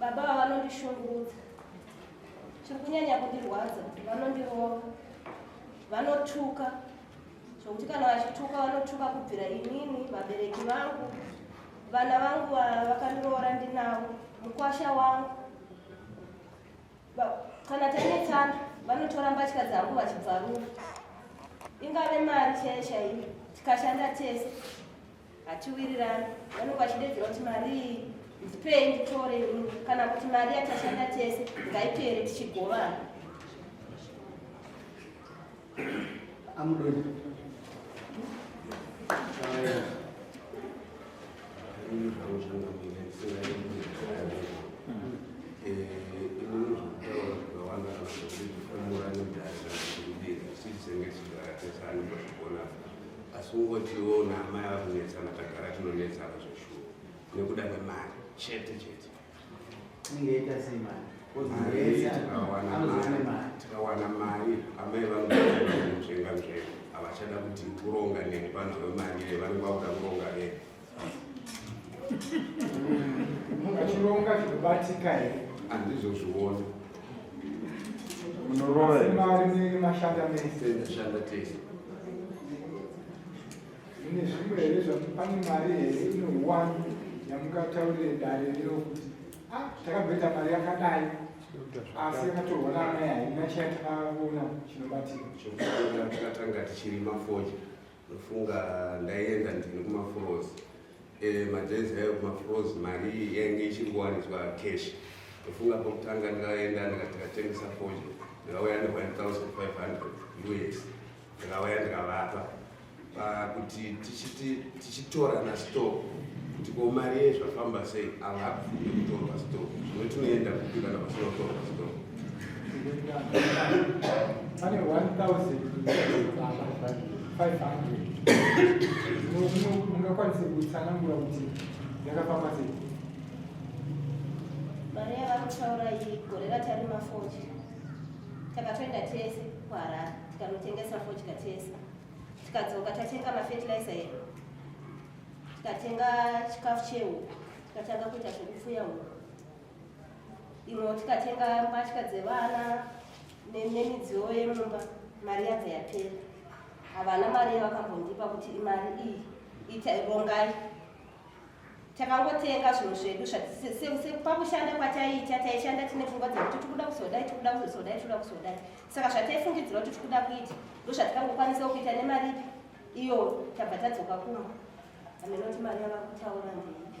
Baba ava vanondishungurudza. Chiri kunyanya kundirwadza kuti vanondirova. Vanotuka. Zvokuti kana vachituka vanotuka kubvira inini, vabereki vangu, vana vangu vakandiroora ndinavo, mukwasha wangu. Kana tanetsana vanotora mbatya dzangu vachibvarura. Ingave mari chaiyo chaiyo tikashanda tese hatiwirirani vanenge vachidedzera kuti marii ndipei nditore kana kuti mari yatashanda tese ngaipere tichigovana amudoni asi ungotiwo naamai ava kunetsana tagara tinonetsana zveshuwo nekuda kwemari chete chete ingaita sei mari tikawana mari amai vanoenga mzvee havachada kuti kuronga neni vanhu vemari vanenge vakuda kuronga vee achironga zvinobatika here andizozviona munorovamari munenge mashanda mese ashanda tese mune zvimwe here zvamupane mari here ino one yamungataurire dare rino kuti ah, takamboita mari yakadai asi yakatorwa naana yaina chiyatakaona chinobatika chokutanga tichirima foja ndofunga ndaienda ndini kumafros eh, madress ayo kumafros mari yainge ichingowaniswa cash ndofunga pokutanga ndakaenda ndikatengesa fodya ndikauya ne1500 us ndikauya ndikavapa pakuti tichitora nastock kuti ko mari yezvafamba sei ava hakufunde kutorwa stock zvino tinoenda kupi kana vasinotorwa stock pane 1500 ungakwanise kutsanangura kuti yakafamba sei mari yavari kutaura iyi gore ratarima fochi takatoenda tese kuharare tikanotengesa fochi katese tikadzoka tatenga mafertilizer edu tikatenga chikafu chehuku tikatanga kuita zvekupfuya huku imwewo tikatenga mbatya dzevana nemidziyo yemumba mari yabva yapera havana mari yavakambondipa kuti imari iyi ita rongai takangotenga zvinhu zvedu pakushanda kwataiita taishanda tine pfungwa dzekuti tikuda kuzodai tikuda kuzodai tikuda kuzodai saka zvataifungidzira kuti tikuda kuita ndo zvatikangokwanisa kuita nemari ipi iyo tabva tadzoka kumba amenoti mari yavakutaura ndeipi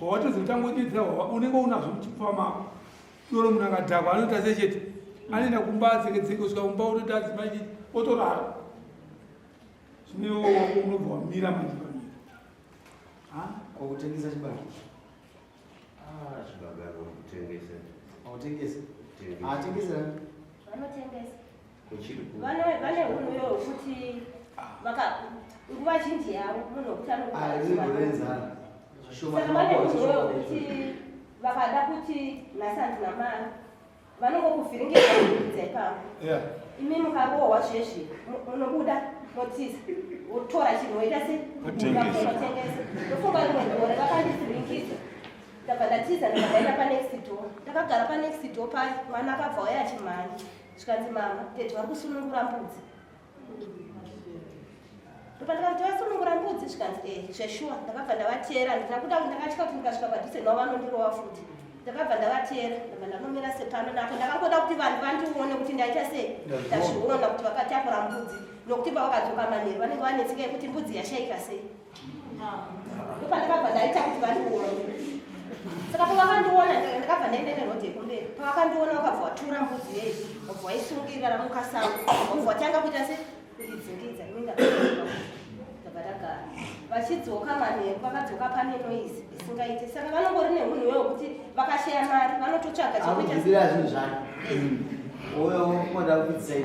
wawatozotangonyedza wawa unenge unazvo muchipfuva mako doro munhu akadhakwa anoita se chete anoenda kumba atsengedzeke kusvika kumba otoita adzimai chete otorara zvineooko unobva wamira manje pamira kwakutengesa chibaro ah, chibagaro kutengesa autengesa atengesa anotengesa vane vane hunhu yo kuti vaka nguva zhinji yavo munhu wekuti anokuaizimborenzana saka vane hunhu yo kuti vakada kuti nhasi handina mari vanongokuvhiringidza kuidza ipapo imi mukarohwa zvezvi munobuda motiza wotora chinhu woita se mukatengesa ndofunga rimwe gore vakandivhiringidza ndabva ndatiza ndikadaenda panext door ndakagara panext door paye mwana akabva waya chimhani zvikanzi mama tete vari kusunungura mbudzi ndopandakati vasunungura mbudzi zvikanzi e eh, zveshuwa ndakabva ndavateera handina kuda ndakatya kuti ndikasvika padhuze navo vanondirova futi ndakabva ndavateera ndabva ndanomira sepano napo ndakangoda kuti vanhu vandione kuti ndaita sei ndazviona kuti vakatakura mbudzi nokuti pavakadzoka manheru vanenge vanetsika yekuti mbudzi yashaika sei Ndopandakabva ndaita kuti vandiona. Saka pavakandiona ndakabva ndaenda neroad yekumberi. Pavakandiona vakabva vatura mbudzi yeyi, vakabva vaisungirira ramukasango, vakabva vatanga kuita se kundidzingidza ini ndakabva tagara. Vachidzoka manheru vakadzoka pane noise isingaite. Saka vanongori nemunhu iwe wekuti vakashaya mari vanototsvaga chekuita. Akuzvibira zvinhu zvake. Uyo woda kudzai.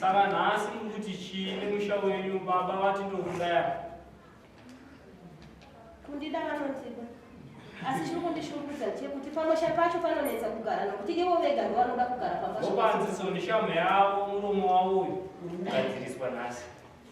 Saka nhasi mukuti chii nemusha wenyu baba vati ndokudaya? Kundida vanondida. Asi chiri kundishungurudza chekuti pamusha pacho panonetsa kugara nokuti ivo vega ndovanoda kugara pamba. Vopanziso ndishamhu yavo muromo wavo uyu uri kugadziriswa nhasi.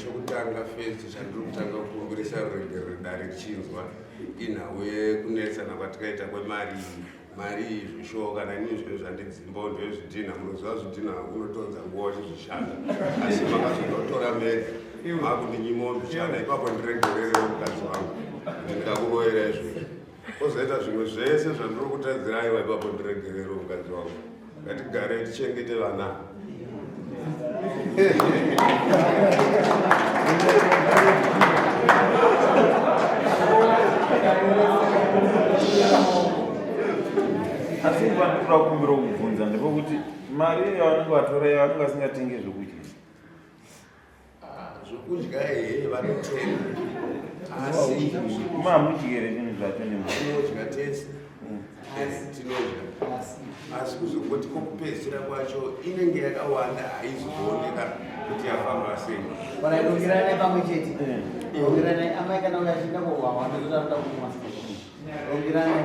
chokutanga fesi chandiri kutanga kukumbirisa ruregerero dare richinzwa inhau yekunetsana kwatikaita kwemari mari izvi sho kana inini zvinhu zvandidzimbo ndezvidhinha munoziva zvidhinha unotonza nguva uchizvishanda asi makazonotora mega makundinyima undichana ipapo ndiregerere mukadzi wangu ndikakuroyera izvozvo Kozoita zvimwe zvese zvandiri kutadzira aiwa ipapo ndiregerero mukadzi wangu. Ngatigare tichengete vana. asi ndinoda kumbira kubvunza ndepekuti mari yavanenge vatora iyo vanenge vasingatenge zvekudya zvokudya here vanotenga asi mamudyere zvinhu zvacho nemuodya tese mm. eh, tinodya asi kuzongoti kokupedzisira kwacho inenge yakawanda haizooneka kuti yafamba sei kana idongerane pamwe chete dongerane eh. amai kana uyachiita kuhwahwa ndozotaruda kumwa dongerane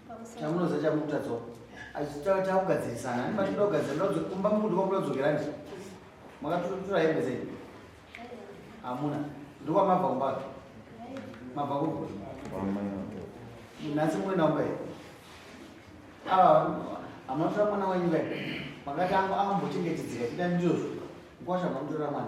Chamunoza chamukuta dzoka. Achitaura takugadzirisana. Ani matoda kugadzira ndodzo kumba mundu kwakuda kudzokera ndi. Makatotora hembe dzenyu. Hamuna. Ndokwa mabva kumba. Mabva kumba. Nasi mwe naomba here? Ava amatoda mwana wenyu here? Makati angu ambo chengetedzera chida ndizvo. Kwasha mamutora mwana.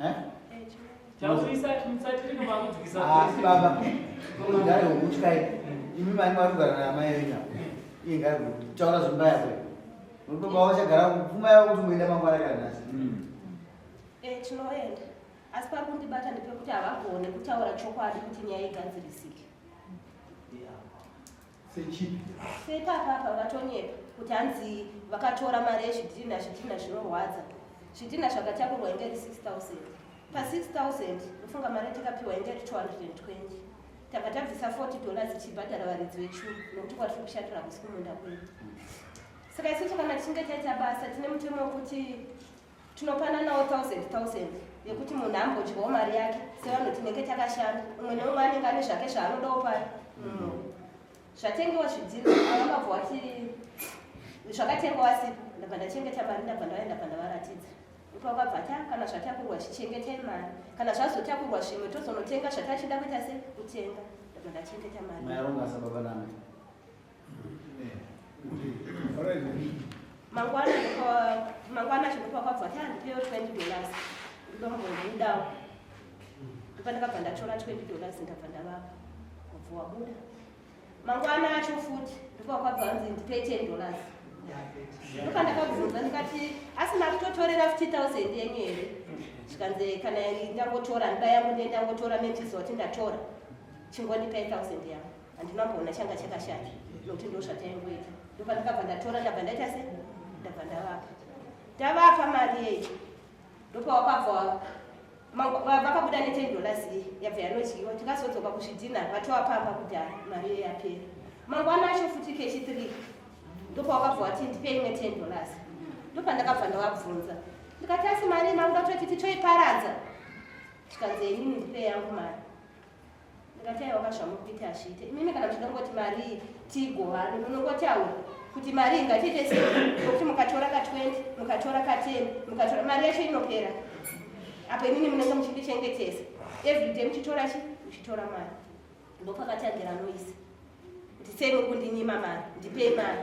Eh? Taurisa mutsatiri kumakudzikisa. Ah, baba. Ngari wokutyayi. Imi mani vari kugara naamai yenyu apa. Iye ngari kutaura zvimba yako. Unotoba wachagara kupfuma yako kuti muenda mangwana kana nhasi. Hmm. Eh, tinoenda. Asi pari kundibata ndepekuti havagone kutaura chokwadi kuti nyaya igadzirisike. sechipi seipapa apa vatonyepa kuti hanzi vakatora mari yezvidhina zvidhina zvinorwadza zvidhina zvakatakurwa inge ri 6000 pa 6000 ufunga mari tikapiwa inge ri 220 tanga tabvisa 40 dollars tichibhadhara varidzi vechuru nokuti kwari tiri kushatira kusi kumunda kwedu saka isu tikana tichinge taita basa tine mutemo wekuti tinopananawo thousand thousand yekuti munhu ambodyawo mari yake sevanhu tinenge takashanda umwe neumwe anenge ane zvake zvaanodawo pari mm. zvatengewa zvidziro avakabva wati zvakatenga wasipo ndabva ndachengeta mari ndabva ndaenda bva ndavaratidza ipakabva ta ah, kana zvatakurwa chichengetai mari kana zvazotakurwa zvimwe tozonotenga zvatachida kuita se kutenga ndabva ndachengeta mari mangwana mangwana chinopa kwabva tandipeyo 20 dollars ndombobudawo ndopandakabva ndatora 20 dollars ndabva ndavapa kubva wabuda mangwana acho futi ndopakwabva anzi ndipe 10 dollars ndopandakabvunza ndikati asi makutotorera 5000 yenyu here zvikanzi kana ndangotora ndiba yangu ndiye ndangotora metiziva kuti ndatora chingondipa 1000 yangu handina kuona changa chakashata nokuti ndo zvataingoita ndopandakabva ndatora ndabva ndaita se ndabva ndavapa tavapa mari yecho ndopawakabva vakabuda neten dollars iyi yabva yanodyiwa tikazodzoka kuzvidhina vatova pamba kuti ha mari iyo yapera mangwana acho futi kechi three ndopawakabva wati ndipei imwe ten dollars ndopandakabva ndavabvunza ndikati asi mari mangu ndatoti titoiparadza tikanzi enini ndipei yangu mari ndingataiwaka zvamukuita hazviite imimi kana muchida kungoti marii tigovani munongotaura kuti mari ingatiite sei nokuti mukatora ka 20 mukatora ka 10 mukatora mari yacho inopera apo imini munenge muchindichengetesa everyday muchitora chi muchitora mari ndopakatangira noise kuti sei muri kundinyima mari ndipei mari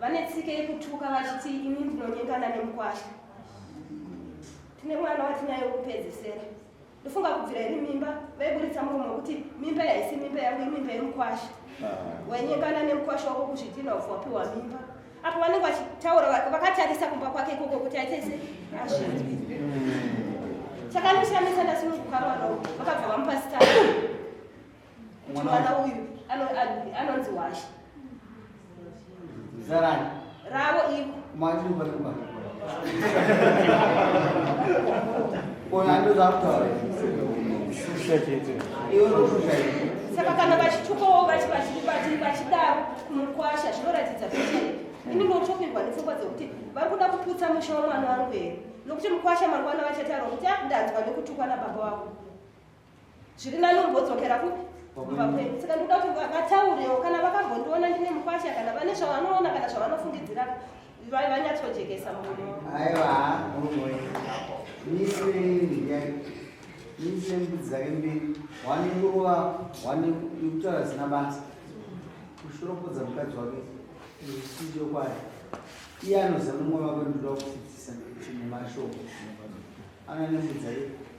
vane tsike yekutuka vachiti ini ndinonyengana nemukwasha tine mwana watinaye wekupedzesera ndofunga kubvira iri mimba vaiburitsa murume wekuti mimba yaisi mimba yangu imimba yemukwasha ah. wainyengana nemukwasha wako kuzvidhina ufu wapiwa mimba apo vanenge vachitaura vakatarisa kumba kwake ikoko kuti aitese azvii chakandishamisa ndasununguka mwana uku vakabva vamupasitana mwana uyu anonzi washa zarani ravo iko saka kana vachitukawo vachidaro kumukwasha zvinoratidza kuti ini ndotopirwa nepfungwa dzekuti vari kuda kuputsa musha wemwana wangu here nokuti mukwasha mangwana vachataura kuti akundanzwa ah, nekutukwa nababa wako zviri nani umbodzokera kupi kumba kwedu saka ndikuda kuti vataurewo kana vakambondiona ndine mukwasha kana vane zvavanoona kana zvavanofungidzira vanyatsojekesa muno aiwa mise mbudzi dzake mbiri wane nguruva wane kutaura zina basa kushoropodza mukadzi wake zvisindio kwayo iye anoziva nomwe vako ndinoda kudzidzisa chimwe mashoko ana nembudzi aii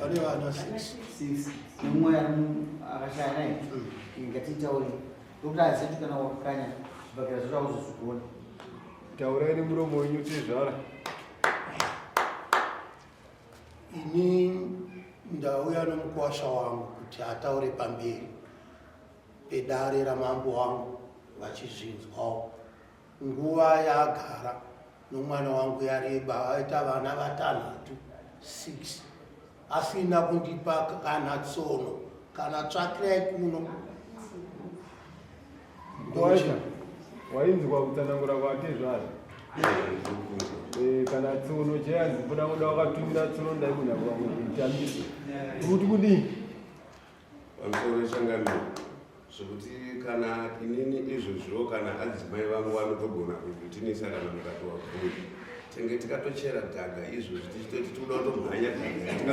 pane vana six nemumwe akashaya naye ngatiitaure tokuti azeti kana wakakanya zvibhakera zvacho auzozvigona taurai nemuromo wenyu tezvara ini ndauya nomukwasha wangu kuti ataure pamberi pedare ramambo wangu vachizvinzwawo Nguva yaagara nomwana wangu yareba, aita vana vatanhatu, six, asina kundipa kana tsono kana tsvakirai kuno. Ndocha wainzwa kutsanangura kwake zvazvo Eh, kana tsono chayanzi buda kuda wakatumira tsono ndaikunyakuva kuti kutambise kuti kudii pamusoro nechangamiro zvekuti kana inini izvozviwo kana adzimai vangu vanotogona kuvitinisa kana mukatowa bvuri tenge tikatochera gaga izvozvi tichitoti tikuda kutomhanya gaga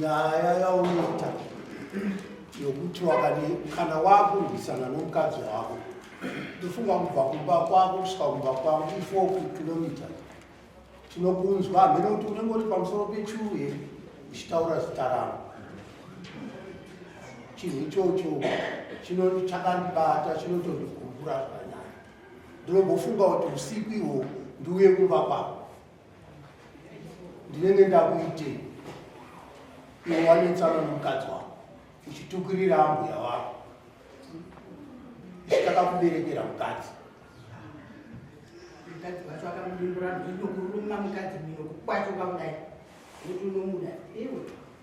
nyaya yaunoita yokuti wakadi kana wakurwisana nomukadzi wako ndofunga kubva kumba kwako kusvika kumba kwako ifoku kilometer tinokunzwa hamene kuti unenge uri pamusoro pechuye uchitaura zita rangu chinhu ichocho chakandibata chinotondigumbura zvanyaya ndinobofunga kuti usiku ihwo ndiuye kumba kwako ndinenge ndakuitei iwe wanetsana nomukadzi wako uchitukirira ambuya wako ichitakakuberekera mukadzi mukadzi wacho akamudimbura ndokuruma mukadzi miro kukwachova kudai kuti unomuda iwe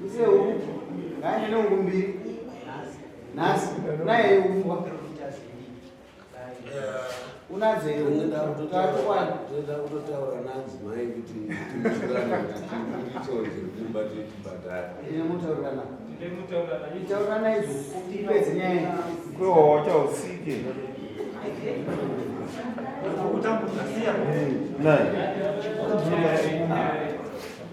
Muse huku ngaende nehuku mbiri nhasi naye umbwa unazeyotoda kutotaura nanzi mai kuti tiitonzirumba tichibhadhara taurana izvo ipedze nyaya kohocha usike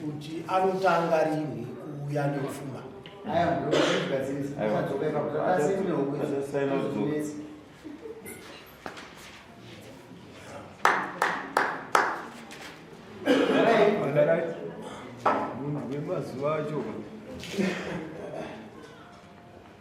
kuti anotanga rinhi kuuya nekufuma munhu wemazuva acho